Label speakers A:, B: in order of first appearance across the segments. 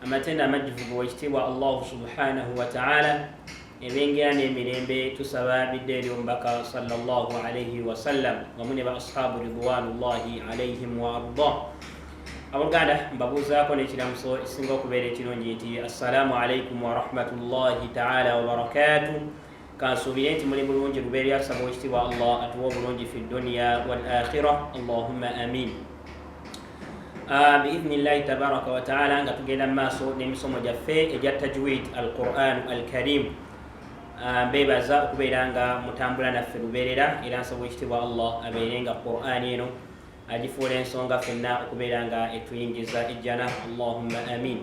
A: amatendo amajjuvu ga ekitiibwa allahu subhanahu wataala ebengera n'emirembe tusaba bidde eri omubaka salllah alaihi wasallam wamu ne ba ashabu ridwanullahi alaihim waarda abooluganda mbabuuzaako n'ekiramuso ekisinga okubeera ekirungi nti assalaamu alaikum warahmatullahi taala wabarakatu kansuubire nti muli bulungi lubeerera tusaba wekitiibwa allah atuwa obulungi fi duniya wal akhira allahumma amin ah, biidhni llahi tabaraka wataala nga tugenda mu maaso n'emisomo gyaffe egya tajwid al quran al karim ah, mbeebaza okubeera nga mutambula naffe lubeerera era nsaba wekitiibwa allah abeere nga quran eno agifuula ensonga fenna okubeera nga etuyingiza ejjana allahumma amin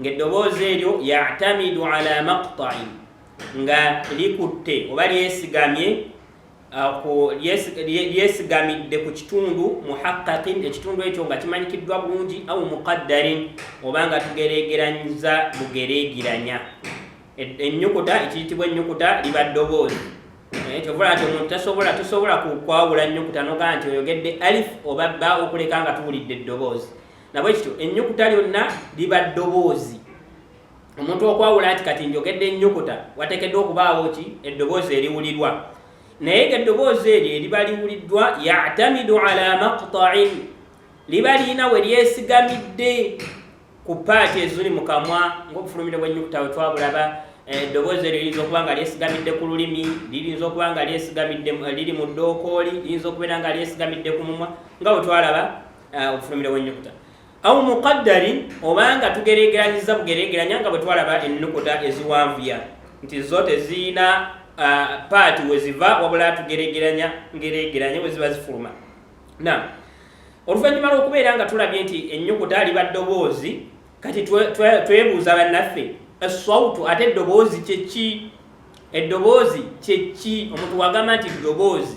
A: ng'eddoboozi eryo yatamidu ala maqtain nga likutte oba lyesigamye lyesigamidde ku kitundu muhaqaqin ekitundu ekyo nga kimanyikiddwa bulungi au muqaddarin oba nga tugeregeranyiza bugeregeranya ennyukuta ekiyitibwa ennyukuta liba ddoboozi eh, kyovula nti omuntu tasobola tosobola kukwawula nnyukuta nogaa nti oyogedde alif oba bba okuleka nga tuwulidde eddoboozi nabwe kityo ennyukuta lyonna liba ddoboozi omuntu okwawula nti kati njogedde ennyukuta wateekeddwa okubaawo ki eddoboozi eriwulirwa naye nga eddoboozi eryo eriba liwuliddwa yatamidu ala maqtain liba lirina we lyesigamidde ku paati eziri mu kamwa ngaobufulumire bw'ennyukuta we twabulaba eh, eddoboozi eryo liyinza okuba nga lyesigamidde ku lulimi liyinza okuba nga lyesigamidde eh, liri mu ddookooli liyinza okubeera nga lyesigamidde ku mumwa nga bwe twalaba ah, obufulumire bw'ennyukuta au muqaddarin obanga tugeregeranyiza bugeregeranya nga bwe twalaba ennukuta eziwanvuya nti zo teziyina ah, paati we ziva wabula tugeregeranya ngeregeranya we ziba zifuluma na oluvannyuma lw'okubeera nga tulabye nti ennyukuta liba ddoboozi kati twebuuza bannaffe eswautu ate eddoboozi kyeki eddoboozi kyeki omuntu wagamba nti ddoboozi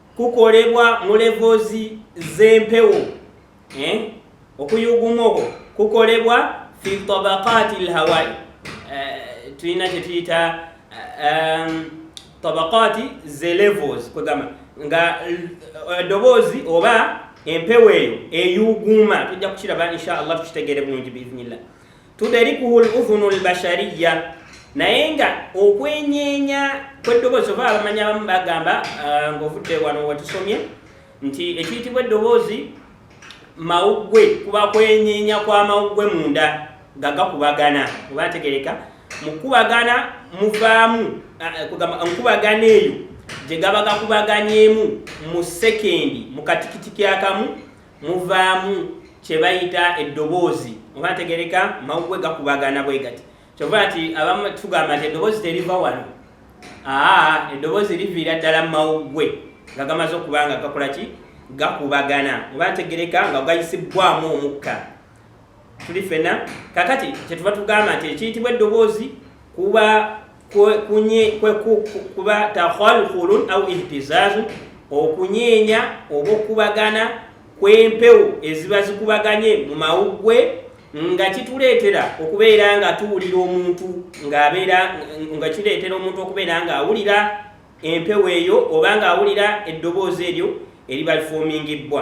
A: kukolebwa mu levels z'empewo eh? okuyuguma okwo kukolebwa fi tabaqati lhawai eh, tulina kyetuyita eh, um, tabaqati ze levels kwegamba nga edoboozi eh, oba empewo eyo eyuguuma tujja kukiraba insha allah tukitegere bulungi biidhnillah tuderikuhu ludhunu lbashariya naye nga okwenyeenya kweddoboozi oba abamanyi abamu bagamba uh, ngaovudde wano wetusomye nti ekiyitibwa eddoboozi mawuggwe kuba kwenyeenya kwa mawuggwe munda nga gakubagana oba ntegereka mukubagana muvaamu uh, nkubagana eyo gye gaba gakubaganyeemu mu sekendi mu katikitiki akamu muvaamu kyebayita eddoboozi oba ntegereka mawugwe gakubagana bwe gati kyova nti abamu tugamba nti eddoboozi teriva wano aa eddoboozi liviira ddala mu mawugwe nga gamaze okuba nga gakola ki gakubagana oba ntegereka nga gayisibbwamu omukka tuli fena kakati kyetuva tugamba nti ekiyitibwa eddoboozi kuba kuba takhalkhulun au ihtizazun okunyeenya oba okubagana kw'empewo eziba zikubaganye mu mawuggwe nga kituleetera okubeera nga tuwulira omuntu ng'abeera nga kireetera omuntu okubeera ng'awulira empewo eyo oba ng'awulira eddoboozi eryo eriba lifoomingibbwa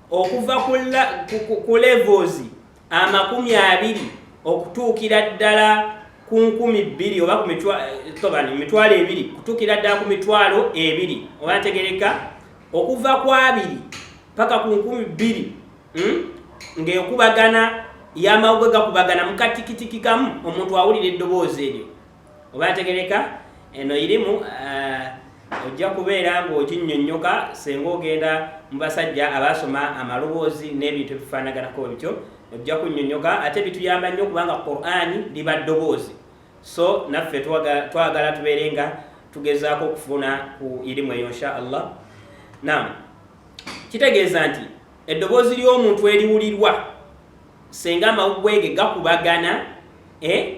A: okuva ku levels amakumi abiri okutuukira ddala ku nkumi bbiri oba ku eh, mitwalo ebiri kutuukira ddala ku mitwalo ebiri oba ntegereka okuva ku abiri paka ku nkumi bbiri hmm? ng'ekubagana yamawuge gakubagana mukatikitiki kamu omuntu awulira eddoboozi eryo oba yategereka eno irimu uh, ojja kubeera ng'oginyonnyoka senga ogenda mu basajja abaasoma amaloboozi n'ebintu ebifaanaganako bityo ojja kunyonnyoka ate bituyamba nnyo kubanga qurani liba ddoboozi so naffe twagala tubeere nga tugezaako okufuna ku irimu eyo insha allah nam kitegeeza nti eddoboozi ly'omuntu eriwulirwa senga amawugwege gakubagana eh?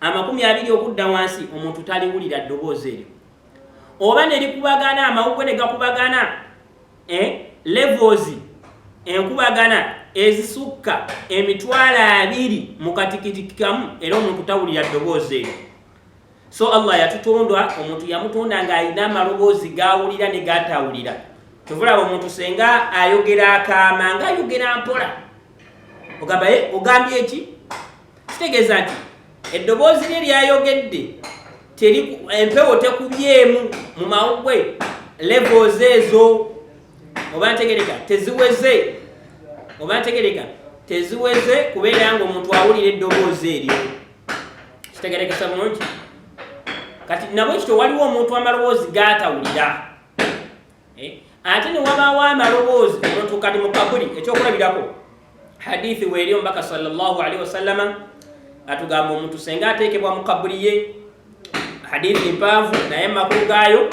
A: amakumi abiri okudda wansi omuntu taliwulira ddoboozi eryo oba ne likubagana amawugwe ne gakubagana eh, levels enkubagana ezisukka emitwalo abiri mu katikitiki kamu era omuntu tawulira ddoboozi eryo so allah yatutondwa omuntu yamutonda ng'alina amaloboozi gawulira ne gatawulira kyovulaba omuntu senga ayogera akaama nga ayogera mpola ogambaye eh, ogambye eki kitegeeza nti eddoboozi lye lyayogedde empewo tekubyemu mu mawugwe levels ezo oba ntegereka teziweze oba ntegereka teziweze kubeera nga omuntu awulira eddoboozi eryo kitegerekesa bulungi kati nabwe kityo waliwo omuntu amaloboozi gaatawulira eh, ate newabaawo amaloboozi notuukati mu kabuli ekyokulabirako hadithi weeri omubaka salllahalihi wasallama atugamba omuntu senga ateekebwa mu kabuli ye hadithi mpaavu naye makulu gaayo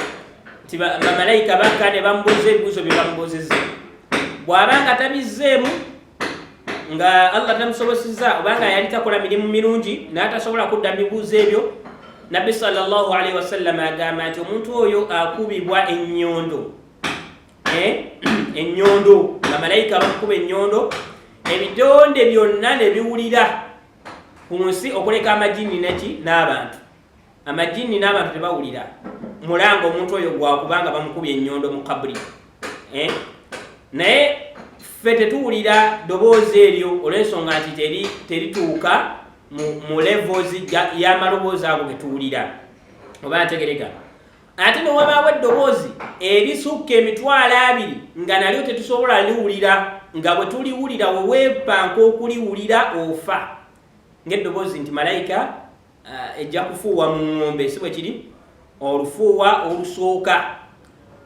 A: nti bamalayika bakka ne bamubuuza ebibuuzo bye bamubuuzizza bw'aba nga tabizzeemu nga Allah tamusobosezza obanga yali takola mirimu mirungi n'atasobola kudda mibuuzo ebyo nabbi sallallahu alaihi wasallam agamba nti omuntu oyo akubibwa ennyondo eh? ennyondo nga malayika bakukuba ennyondo ebitonde byonna ne biwulira ku nsi okuleka amajini neki n'abantu amajinni n'abantu tebawulira mulanga omuntu oyo gwakubanga bamukubye ennyondo mu kabuli eh? naye ffe tetuwulira doboozi eryo olw'ensonga nti terituuka mu levels y'amaloboozi ago getuwulira oba ntegereka ate newabaawo eddoboozi erisukka emitwalo abiri nga nalyo tetusobola liwulira nga bwe tuliwulira weweepanka okuliwulira ofa ng'eddoboozi nti malayika uh, ejja kufuuwa mu ng'ombe si bwe kiri olufuuwa olusooka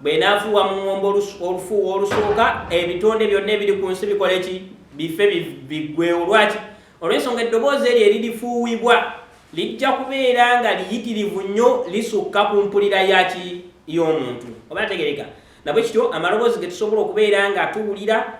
A: bwenaafuuwa mu ng'ombe olufuuwa olusooka ebitonde byonna ebiri ku nsi bikola eki bife biggwewo lwaki olw'ensonga eddoboozi eryo eririfuuwibwa lijja kubeera nga liyitirivu nnyo lisukka ku mpulira yaki y'omuntu oba ategereka nabwe kityo amaloboozi ge tusobola okubeera nga tuwulira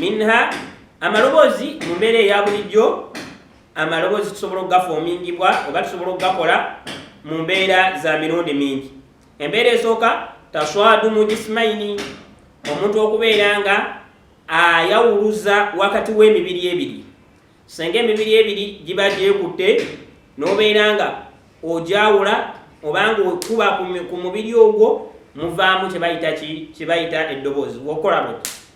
A: minha amaloboozi mu mbeera eya bulijjo amaloboozi tusobola okugafoomingibwa oba tusobola okugakola mu mbeera za mirundi mingi embeera esooka taswadu mu jisimaini omuntu okubeera nga ayawuluza wakati w'emibiri ebiri senga emibiri ebiri giba gyekutte n'obeera nga ogyawula obanga okuba ku mubiri ogwo muvaamu kyebayita ki kyebayita eddoboozi wokola bwe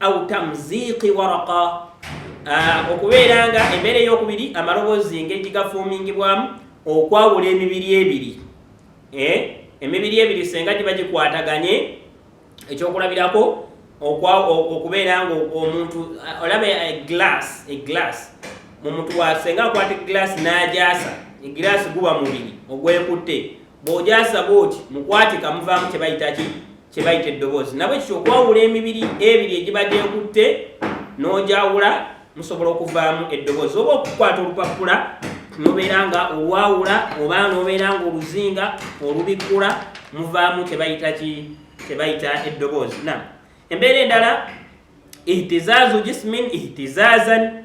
A: au tamziqi waraqa ah, okubeera nga embeera eyokubiri amaloboozi engeri gigafuumingibwamu okwawula emibiri ebiri eh, emibiri ebiri senga giba gikwataganye ekyokulabirako okubeera nga omuntu ah, olaba eglass eh, eglass mu mutu wa senga akwata eglass n'ajaasa eglass guba mubiri ogwekutte bw'ojaasa bwoti mukwatika muvaamu kye bayitaki kye bayita eddoboozi nabwe kityo okwawula emibiri ebiri egiba gyekutte n'ogyawula musobola okuvaamu eddoboozi oba okukwata olupapula nobeera nga olwawula oba nobeera nga oluzinga olubikkula muvaamu kye bayita ki kye bayita eddoboozi na embeera endala ihtizaazu jismin ihtizazan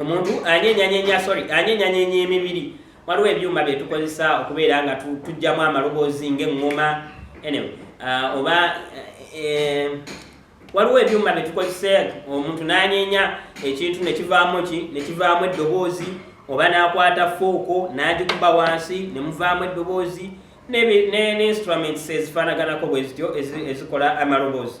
A: omuntu anyenyanyenya sorry anyenyanyenya emibiri waliwo ebyuma byetukozesa okubeera nga tujjamu amaloboozi ngaeŋŋoma anyway uh, oba eh, waliwo ebyuma byetukozesa omuntu nanyenya ekintu nekivaamu ki nekivaamu eddoboozi oba nakwata fooko nagikuba wansi nemuvaamu eddoboozi ne instruments ezifaanaganako bwezityo ezikola amaloboozi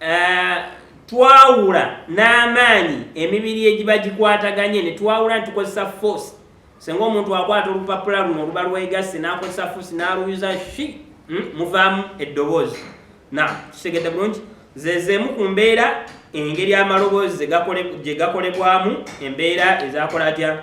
A: eh, twawula n'amaanyi emibiri egiba gikwataganye ne twawula ne tukozesa force senga omuntu akwata olupapula luno oluba lwegasse n'akozesa force n'aluyuza shi hmm, muvaamu eddoboozi na kitegedde bulungi zezeemu ku mbeera engeri amaloboozi gye gakolebwamu embeera ezakola atya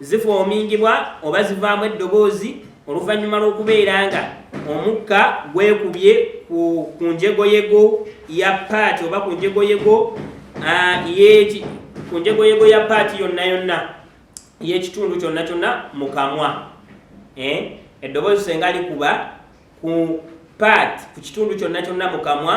A: Zifoomingibwa oba zivaamu eddoboozi oluvannyuma lw'okubeera nga omukka gwekubye ku njegoyego ya paati oba ku njegoyego ku njegoyego ya paati yonna yonna y'ekitundu kyonna kyonna mu kamwa eh? eddoboozi senga likuba ku paati ku kitundu kyonna kyonna mu kamwa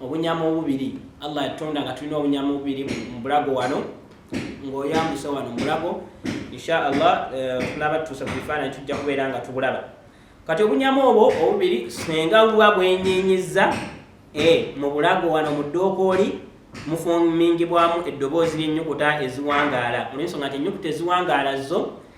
A: obunyama obubiri allah yatonda nga tulina obunyama obubiri mubulago wano ngaoyambuse wano mubulago insha allah eh, tunaba tutuuse ku bifaananyi tujja kubeera nga tubulaba kati obunyama obwo obubiri senga buba bwenyenyiza eh, mu bulago wano mu dookooli mufumingibwamu eddoboozi lyennyukuta eziwangaala olwensonga nti ennyukuta eziwangaala zo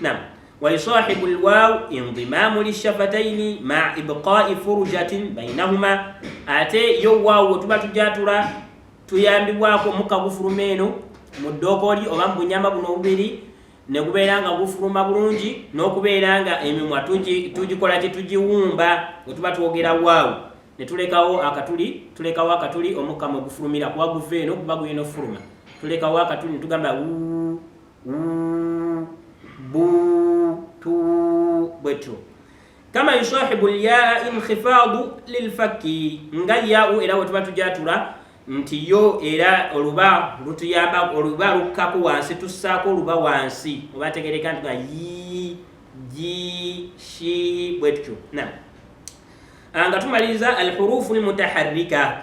A: Naam. Wa yusahibu alwaw indimamu lishafataini ma ibqa'i furjatin bainahuma, ate yo waawo tuba tujatula tuyambibwako omukka gufuluma eno mu ddookoli oba mu bunyama buno obubiri ne gubeera nga gufuluma bulungi n'okubeera nga emimwa tugikola kye tugiwumba we tuba twogera waawo ne tulekawo akatuli tulekawo akatuli omukka mwe gufulumira kuba guva eno kuba guyina okufuluma tulekawo akatuli ne tugamba wuu bu tu bwetyo kama yusahibu lyaa inkhifadu lilfakki nga yau era wetuba tujatula nti yo era oluba lutuyamba oluba lukkaku wansi tussaako oluba wansi oba tegereka nti ga yi ji shi bwetyo na ah, nga tumaliriza alhurufu lmutaharika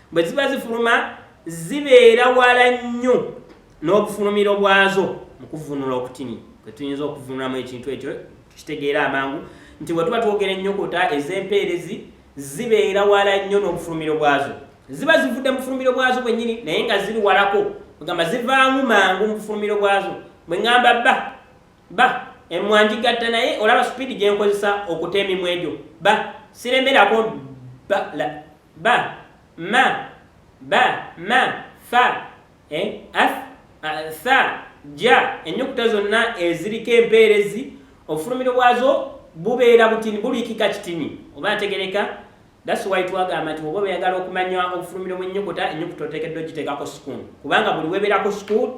A: bwe ziba zifuluma zibeera wala nnyo n'obufulumiro bwazo mu kuvunula okutini kwe tuyinza okuvunulamu ekintu ekyo tukitegeera amangu nti bwe tuba twogera ennyokota ez'empeerezi zibeera wala nnyo n'obufulumiro bwazo ziba zivudde mu bufulumiro bwazo bwennyini naye nga ziri walako ogamba zivaamu mangu mu bufulumiro bwazo bwe ŋŋamba ba ba emwanjigatta naye olaba supiidi gye nkozesa okuta emimwa egyo ba siremerako ba la ba ma ba ma fa e, as sa ja ennyukuta zonna eziriko empeerezi obufulumiro bwazo bubeera butini buliikika kitini oba ategereka That's why twagamba nti oba oyagala okumanya obufulumiro bw'ennyukuta ennyukuta oteekeddwa ogiteekako sukuuni kubanga buli weebeerako sukuuni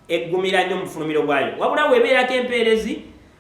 A: eggumira nnyo mu bufulumiro bwayo wabula weebeerako empeerezi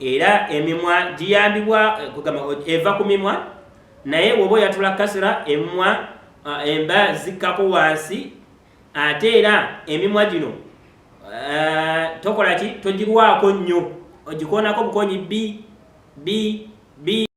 A: era emimwa giyambibwa eh, eva ku mimwa naye woba oyatula kasira emimwa ah, emba zikkako wansi ate era emimwa gino eh, tokola ki togirwako nnyo ogikoonako bukonyi bi bi bi